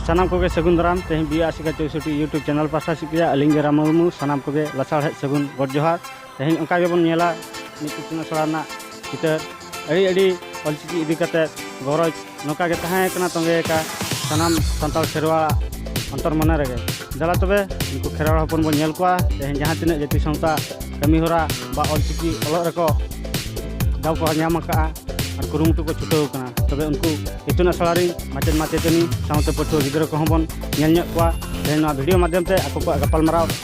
ᱥᱟᱱᱟᱢ ᱠᱚᱜᱮ ᱥᱟᱹᱜᱩᱱ ᱫᱟᱨᱟᱢ ᱛᱮᱦᱮᱧ ᱵᱤ ᱟᱨ ᱥᱤᱠᱟ ᱪᱳᱭᱥᱚᱴᱤ ᱭᱩᱴᱩᱵᱽ ᱪᱮᱱᱮᱞ ᱯᱟᱥᱴᱟ ᱥᱮᱫ ᱠᱷᱚᱱᱟᱜ ᱟᱹᱞᱤᱧ ᱜᱮ ᱨᱟᱢ ᱢᱩᱨᱢᱩ ᱥᱟᱱᱟᱢ ᱠᱚᱜᱮ ᱞᱟᱥᱟᱲᱦᱮᱫ ᱥᱟᱹᱜᱩᱱ ᱜᱚᱰ ᱡᱚᱦᱟᱨ ᱛᱮᱦᱮᱧ ᱚᱱᱠᱟ ᱜᱮᱵᱚᱱ ᱧᱮᱞᱟ ᱢᱤᱫ ᱤᱛᱩᱱ ᱟᱥᱲᱟ ᱨᱮᱱᱟᱜ ᱪᱤᱛᱟᱹᱨ ᱟᱹᱰᱤ ᱟᱹᱰᱤ ᱚᱞᱪᱤᱠᱤ ᱤᱫᱤ ᱠᱟᱛᱮᱫ ᱜᱚᱨᱚᱡᱽ ᱱᱚᱝᱠᱟ ᱜᱮ ᱛᱟᱦᱮᱸ ᱠᱟᱱᱟ ᱛᱚᱸᱜᱮ ᱟᱠᱟ ᱥᱟᱱᱟᱢ ᱥᱟᱱᱛᱟᱲ ᱠᱷᱮᱨᱣᱟᱲ ᱚᱱᱛᱚᱨ ᱢᱚᱱᱮ ᱨᱮᱜᱮ ᱫᱟᱞᱟ ᱛᱚᱵᱮ ᱩᱱᱠᱩ ᱠᱷᱮᱨᱣᱟᱲ ᱦᱚᱯᱚᱱ ᱵᱚᱱ ᱧᱮᱞ ᱠᱚᱣᱟ ᱛᱮᱦᱮᱧ ᱡᱟᱦᱟᱸ ᱛᱤᱱᱟᱹᱜ ᱡᱟᱹᱛᱤ ᱥᱟᱶᱛᱟ ᱠᱟᱹᱢᱤ ᱦᱚᱨᱟ ᱵᱟ ᱚᱞᱪᱤᱠᱤ ᱚᱞᱚᱜ ᱨᱮᱠᱚ ᱫᱟᱣ ᱠᱚ ᱧᱟᱢ ᱟᱠᱟᱫᱼᱟ ᱟᱨ ᱠᱩᱨᱩᱢᱩᱴᱩ ᱠᱚ ᱪᱷᱩᱴᱟᱹᱣ ᱟᱠᱟᱱᱟ ᱛᱚᱵᱮ ᱩᱱᱠᱩ ᱤᱛᱩᱱ ᱟᱥᱲᱟ ᱨᱮ ᱢᱟᱪᱮᱫ ᱢᱟᱪᱮᱛᱟᱹᱱᱤ ᱥᱟᱶᱛᱮ ᱯᱟᱹᱴᱷᱩᱣᱟᱹ ᱜᱤᱫᱽᱨᱟᱹ ᱠᱚᱦᱚᱸ ᱵᱚᱱ ᱧᱮᱞ ᱧᱚᱜ ᱠᱚᱣᱟ ᱛᱮᱦᱮᱧ ᱱᱚᱣᱟ ᱵᱷᱤᱰᱤᱭᱳ ᱢᱟᱫᱽᱫᱷᱚᱢ ᱛᱮ ᱟᱠᱚ ᱠᱚᱣᱟᱜ ᱜᱟᱯᱟᱞᱢᱟᱨᱟᱣ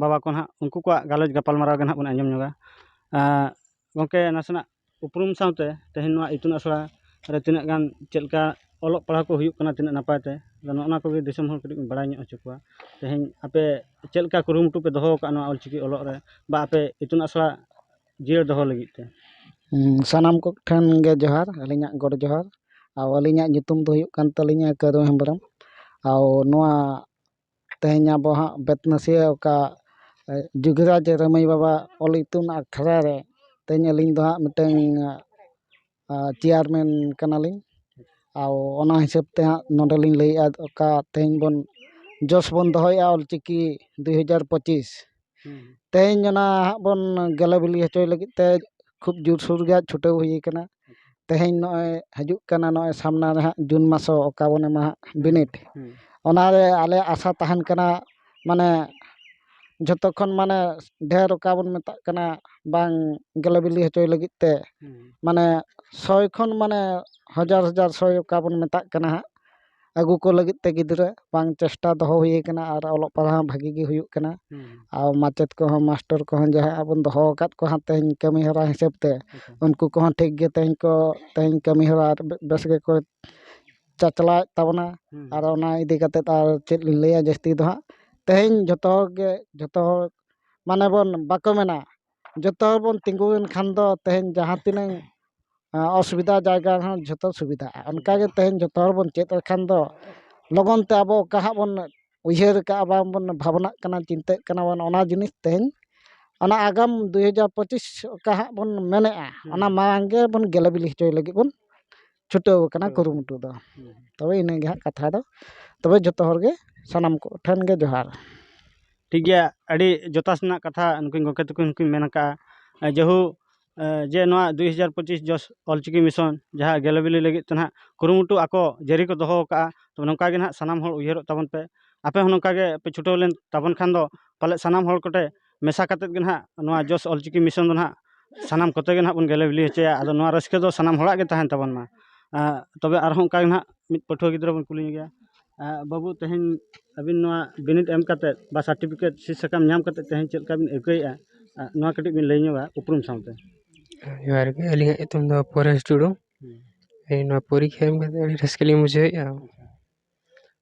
ᱵᱟᱵᱟ ᱠᱚ ᱱᱟᱦᱟᱜ ᱩᱱᱠᱩ ᱠᱚᱣᱟᱜ ᱜᱟᱞᱚᱪ ᱜᱟᱯᱟᱞ ᱢᱟᱨᱟᱣ ᱜᱮ ᱱᱟᱦᱟᱜ ᱵᱚᱱ ᱟᱸᱡᱚᱢ ᱧᱚᱜᱟ ᱜᱚᱢᱠᱮ ᱱᱟᱥᱮᱱᱟᱜ ᱩᱯᱨᱩᱢ ᱥᱟᱶᱛᱮ ᱛᱮᱦᱮᱧ ᱱᱚᱣᱟ ᱤᱛᱩᱱ ᱟᱥᱲᱟ ᱨᱮ ᱛᱤᱱᱟᱹᱜ ᱜᱟᱱ ᱪᱮᱫ ᱞᱮᱠᱟ ᱚᱞᱚᱜ ᱯᱟᱲᱦᱟᱣ ᱠᱚ ᱦᱩᱭᱩᱜ ᱠᱟᱱᱟ ᱛᱤᱱᱟᱹᱜ ᱱᱟᱯᱟᱭ ᱛᱮ ᱟᱫᱚ ᱱᱚᱜᱼᱚ ᱱᱚᱣᱟ ᱠᱚᱜᱮ ᱫᱤᱥᱚᱢ ᱦᱚᱲ ᱠᱟᱹᱴᱤᱡ ᱵᱚᱱ ᱵᱟᱲᱟᱭ ᱧᱚᱜ ᱦᱚᱪᱚ ᱠᱚᱣᱟ ᱛᱮᱦᱮᱧ ᱟᱯᱮ ᱪᱮᱫ ᱞᱮᱠᱟ ᱠᱩᱨᱩᱢᱩᱴᱩ ᱯᱮ ᱫᱚᱦᱚ ᱟᱠᱟᱫᱼᱟ ᱱᱚᱣᱟ ᱚᱞ ᱪᱤᱠᱤ ᱚᱞᱚᱜ ᱨᱮ ᱵᱟ ᱟᱯᱮ ᱤᱛᱩᱱ ᱟᱥᱲᱟ ᱡᱤᱭᱟᱹᱲ ᱫᱚᱦᱚ ᱞᱟᱹᱜᱤᱫ ᱛᱮ ᱥᱟᱱᱟᱢ ᱠᱚᱴᱷᱮᱱ ᱜᱮ ᱡᱚᱦᱟᱨ ᱟᱹᱞᱤᱧᱟᱜ ᱜᱚᱰ ᱡᱚᱦᱟᱨ ᱟᱨ ᱟᱹᱞᱤᱧᱟᱜ ᱧᱩᱛᱩᱢ ᱫᱚ ᱦᱩᱭᱩᱜ ᱠᱟᱱ ᱛᱟᱹᱞᱤᱧᱟ ᱠᱟᱹᱨᱩ ᱦᱮᱢᱵᱨᱚᱢ ᱟᱨ ᱱᱚᱣᱟ ᱛᱮᱦᱮᱧ ᱟᱵᱚ ᱦᱟᱸᱜ ᱵᱮᱛᱱᱟᱹᱥᱤᱭᱟᱹ ᱚᱠᱟ ᱡᱩᱜᱤᱨᱟᱡᱽ ᱨᱟᱹᱢᱟᱹᱭ ᱵᱟᱵᱟ ᱚᱞ ᱤᱛᱩᱱ ᱟᱠᱷᱲᱟ ᱨᱮ ᱛᱮᱦᱮᱧ ᱟᱹᱞᱤᱧ ᱫᱚ ᱦᱟᱸᱜ ᱢᱤᱫᱴᱟᱹᱝ ᱪᱮᱭᱟᱨᱢᱮᱱ ᱠᱟᱱᱟᱞᱤᱧ ᱟᱨ ᱚᱱᱟ ᱦᱤᱥᱟᱹᱵ ᱛᱮ ᱦᱟᱸᱜ ᱱᱚᱰᱮ ᱞᱤᱧ ᱞᱟᱹᱭᱮᱜᱼᱟ ᱚᱠᱟ ᱛᱮᱦᱮᱧ ᱵᱚᱱ ᱡᱚᱥ ᱵᱚᱱ ᱫᱚᱦᱚᱭᱮᱜᱼᱟ ᱚᱞ ᱪᱤᱠᱤ ᱫᱩᱭ ᱦᱟᱡᱟᱨ ᱯᱚᱸᱪᱤᱥ ᱛᱮᱦᱮᱧ ᱚᱱᱟ ᱦᱟᱸᱜ ᱵᱚᱱ ᱜᱮᱞᱮ ᱵᱤᱞᱤ ᱦᱚᱪᱚᱭ ᱞᱟᱹᱜᱤᱫ ᱛᱮ ᱠᱷᱩᱵ ᱡᱳᱨ ᱥᱳᱨ ᱜᱮ ᱦᱟᱸᱜ ᱪᱷᱩᱴᱟᱹᱣ ᱦᱩᱭ ᱠᱟᱱᱟ ᱛᱮᱦᱮᱧ ᱱᱚᱜᱼᱚᱭ ᱦᱤᱡᱩᱜ ᱠᱟᱱᱟ ᱱᱚᱜᱼᱚᱭ ᱥᱟᱢᱱᱟ ᱨᱮ ᱦᱟᱸᱜ ᱡᱩᱱ ᱢᱟᱥ ᱦᱚᱸ ᱚᱠᱟ ᱵᱚᱱ ᱮᱢᱟ ᱦᱟᱸᱜ ᱵᱤᱱᱤᱰ ᱚᱱᱟ ᱨᱮ ᱟᱞᱮᱭᱟᱜ ᱟᱥᱟ ᱛᱟᱦᱮᱱ ᱠᱟᱱᱟ ᱢᱟᱱᱮ ᱡᱷᱚᱛᱚ ᱠᱷᱚᱱ ᱢᱟᱱᱮ ᱰᱷᱮᱨ ᱚᱠᱟ ᱵᱚᱱ ᱢᱮᱛᱟᱜ ᱠᱟᱱᱟ ᱵᱟᱝ ᱜᱮᱞᱮ ᱵᱤᱞᱤ ᱦᱚᱪᱚᱭ ᱞᱟᱹᱜᱤᱫ ᱛᱮ ᱢᱟᱱᱮ ᱥᱚᱭ ᱠᱷᱚᱱ ᱢᱟᱱᱮ ᱦᱟᱡᱟᱨ ᱦᱟᱡᱟᱨ ᱥᱚᱭ ᱚᱠᱟ ᱵᱚᱱ ᱢᱮᱛᱟᱜ ᱠᱟᱱᱟ ᱦᱟᱸᱜ ᱟᱹᱜᱩ ᱠᱚ ᱞᱟᱹᱜᱤᱫ ᱛᱮ ᱜᱤᱫᱽᱨᱟᱹ ᱵᱟᱝ ᱪᱮᱥᱴᱟ ᱫᱚᱦᱚ ᱦᱩᱭ ᱠᱟᱱᱟ ᱟᱨ ᱚᱞᱚᱜ ᱯᱟᱲᱦᱟᱣ ᱦᱚᱸ ᱵᱷᱟᱹᱜᱤ ᱜᱮ ᱦᱩᱭᱩᱜ ᱠᱟᱱᱟ ᱟᱨ ᱢᱟᱪᱮᱫ ᱠᱚᱦᱚᱸ ᱢᱟᱥᱴᱚᱨ ᱠᱚᱦᱚᱸ ᱡᱟᱦᱟᱸᱭ ᱟᱵᱚᱱ ᱫᱚᱦᱚ ᱟᱠᱟᱫ ᱠᱚᱣᱟ ᱦᱟᱸᱜ ᱛᱮᱦᱮᱧ ᱠᱟᱹᱢᱤ ᱦᱚᱨᱟ ᱦᱤᱥᱟᱹᱵ ᱛᱮ ᱩᱱᱠᱩ ᱠᱚᱦᱚᱸ ᱴᱷᱤᱠ ᱜᱮ ᱛᱮᱦᱮᱧ ᱠᱚ ᱛᱮᱦᱮᱧ ᱠᱟᱹᱢᱤ ᱦᱚᱨᱟ ᱵᱮᱥ ᱜᱮᱠᱚ ᱪᱟᱪᱞᱟᱣᱮᱫ ᱛᱟᱵᱚᱱᱟ ᱟᱨ ᱚᱱᱟ ᱤᱫᱤ ᱠᱟᱛᱮ ᱟᱨ ᱪᱮᱫ ᱞᱤᱧ ᱞᱟᱹᱭᱟ ᱡᱟᱹᱥᱛᱤ ᱫᱚ ᱦᱟᱸᱜ ᱛᱮᱦᱮᱧ ᱡᱚᱛᱚ ᱦᱚᱲ ᱜᱮ ᱡᱚᱛᱚ ᱦᱚᱲ ᱢᱟᱱᱮ ᱵᱚᱱ ᱵᱟᱠᱚ ᱢᱮᱱᱟ ᱡᱚᱛᱚ ᱦᱚᱲ ᱵᱚᱱ ᱛᱤᱸᱜᱩᱭᱮᱱ ᱠᱷᱟᱱ ᱫᱚ ᱛᱮᱦᱮᱧ ᱡᱟᱦᱟᱸ ᱛᱤᱱᱟᱹᱝ ᱚᱥᱩᱵᱤᱫᱟ ᱡᱟᱭᱜᱟ ᱨᱮᱦᱚᱸ ᱡᱚᱛᱚ ᱥᱩᱵᱤᱫᱟᱜᱼᱟ ᱚᱱᱠᱟ ᱜᱮ ᱛᱮᱦᱮᱧ ᱡᱚᱛᱚ ᱦᱚᱲ ᱵᱚᱱ ᱪᱮᱫ ᱞᱮᱠᱷᱟᱱ ᱫᱚ ᱞᱚᱜᱚᱱ ᱛᱮ ᱟᱵᱚ ᱚᱠᱟ ᱦᱟᱸᱜ ᱵᱚᱱ ᱩᱭᱦᱟᱹᱨ ᱠᱟᱜᱼᱟ ᱵᱟᱝ ᱵᱚᱱ ᱵᱷᱟᱵᱽᱱᱟᱜ ᱠᱟᱱᱟ ᱪᱤᱱᱛᱟᱹᱜ ᱠᱟᱱᱟ ᱵᱚᱱ ᱚᱱᱟ ᱡᱤᱱᱤᱥ ᱛᱮᱦᱮᱧ ᱚᱱᱟ ᱟᱜᱟᱢ ᱫᱩᱭ ᱦᱟᱡᱟᱨ ᱯᱚᱸᱪᱤᱥ ᱚᱠᱟ ᱦᱟᱸᱜ ᱵᱚᱱ ᱢᱮᱱᱮᱜᱼᱟ ᱚᱱᱟ ᱢᱟᱲᱟᱝ ᱜᱮᱵᱚᱱ ᱜᱮᱞᱮ ᱵᱤᱞᱤ ᱦᱚᱪᱚᱭ ᱞᱟᱹᱜᱤᱫ ᱵᱚᱱ ᱪᱷᱩᱴᱟᱹᱣ ᱠᱟᱱᱟ ᱠᱩᱨᱩᱢᱩᱴᱩ ᱫᱚ ᱛᱚᱵᱮ ᱤᱱᱟᱹ ᱜᱮ ᱦᱟᱸᱜ ᱠᱟᱛᱷᱟ ᱫᱚ ᱛᱚᱵᱮ ᱡᱚᱛᱚ ᱦᱚᱲ ᱜᱮ ᱥᱟᱱᱟᱢ ᱠᱚ ᱴᱷᱮᱱ ᱜᱮ ᱡᱚᱦᱟᱨ ᱴᱷᱤᱠ ᱜᱮᱭᱟ ᱟᱹᱰᱤ ᱡᱚᱛᱷᱟᱛ ᱨᱮᱱᱟᱜ ᱠᱟᱛᱷᱟ ᱱᱩᱠᱤᱱ ᱜᱚᱢᱠᱮ ᱛᱟᱠᱚ ᱦᱚᱸᱠᱤᱱ ᱢᱮᱱ ᱟᱠᱟᱜᱼᱟ ᱡᱮᱦᱩ ᱡᱮ ᱱᱚᱣᱟ ᱫᱩᱭ ᱦᱟᱡᱟᱨ ᱯᱚᱸᱪᱤᱥ ᱡᱚᱥ ᱚᱞ ᱪᱤᱠᱤ ᱢᱤᱥᱚᱱ ᱡᱟᱦᱟᱸ ᱜᱮᱞᱮ ᱵᱤᱞᱤ ᱞᱟᱹᱜᱤᱫ ᱛᱮ ᱱᱟᱦᱟᱜ ᱠᱩᱨᱩᱢᱩᱴᱩ ᱟᱠᱚ ᱡᱟᱹᱨᱤ ᱠᱚ ᱫᱚᱦᱚ ᱟᱠᱟᱜᱼᱟ ᱛᱚᱵᱮ ᱱᱚᱝᱠᱟ ᱜᱮ ᱱᱟᱦᱟᱜ ᱥᱟᱱᱟᱢ ᱦᱚᱲ ᱩᱭᱦᱟᱹᱨᱚᱜ ᱛᱟᱵᱚᱱ ᱯᱮ ᱟᱯᱮ ᱦᱚᱸ ᱱᱚᱝᱠᱟ ᱜᱮ ᱯᱮ ᱪᱷᱩᱴᱟᱹᱣ ᱞᱮᱱ ᱛᱟᱵᱚᱱ ᱠᱷᱟᱱ ᱫᱚ ᱯᱟᱞᱮᱫ ᱥᱟᱱᱟᱢ ᱦᱚᱲ ᱠᱚᱴᱷᱮᱱ ᱢᱮᱥᱟ ᱠᱟᱛᱮᱫ ᱜᱮ ᱱᱟᱦᱟᱜ ᱱᱚᱣᱟ ᱡᱚᱥ ᱚᱞ ᱪᱤᱠᱤ ᱢᱤᱥᱚᱱ ᱫᱚ ᱱᱟᱦᱟᱜ ᱥᱟᱱᱟᱢ ᱠᱚᱛᱮ ᱜᱮ ᱱᱟᱦᱟᱜ ᱵᱚᱱ ᱜᱮᱞᱮ ᱵᱤᱞᱤ ᱦᱚᱪᱚᱭᱟ ᱟᱫᱚ ᱱᱚᱣᱟ ᱨᱟᱹᱥᱠᱟᱹ ᱫᱚ ᱥᱟᱱᱟᱢ ᱦᱚᱲᱟᱜ ᱜᱮ ᱛᱟᱦᱮᱱ ᱛᱟᱵᱚᱱ ᱢᱟ ᱛᱚᱵᱮ ᱟᱨᱦᱚᱸ ᱚᱱᱠᱟ ᱜᱮ ᱱᱟᱦᱟᱜ ᱢᱤᱫ ᱯᱟᱹᱴᱷᱩᱣᱟᱹ ᱜᱤᱫᱽᱨᱟᱹ ᱵᱚᱱ ᱠᱩᱞᱤ ᱧᱚᱜᱮᱭᱟ ᱵᱟᱹᱵᱩ ᱛᱮᱦᱮᱧ ᱟᱹᱵᱤᱱ ᱱᱚᱣᱟ ᱵᱤᱱᱤᱰ ᱮᱢ ᱠᱟᱛᱮᱫ ᱵᱟ ᱥᱟᱨᱴᱤᱯᱷᱤᱠᱮᱴ ᱥᱤᱫᱽ ᱥᱟᱠᱟᱢ ᱧᱟᱢ ᱠᱟᱛᱮᱫ ᱛᱮᱦᱮᱧ ᱪᱮᱫ ᱞᱮᱠᱟ ᱵᱤᱱ ᱟᱹᱭᱠᱟᱹᱣᱮᱜᱼᱟ ᱱᱚᱣᱟ ᱠᱟᱹᱴᱤᱡ ᱵᱤᱱ ᱞᱟᱹᱭ ᱧᱚᱜᱟ ᱩᱯᱨᱩᱢ ᱥᱟᱶᱛᱮ ᱡᱚᱦᱟᱨ ᱜᱮ ᱟᱹᱞᱤᱧᱟᱜ ᱧᱩᱛᱩᱢ ᱫᱚ ᱯᱚᱨᱮᱥ ᱴᱩᱰᱩ ᱱᱚᱣᱟ ᱯᱚᱨᱤᱠᱠᱷᱟ ᱮᱢ ᱠᱟᱛᱮᱫ ᱟᱹᱰᱤ ᱨᱟᱹᱥᱠᱟᱹ ᱞᱤᱧ ᱵᱩᱡᱷᱟᱹᱣᱮᱜᱼᱟ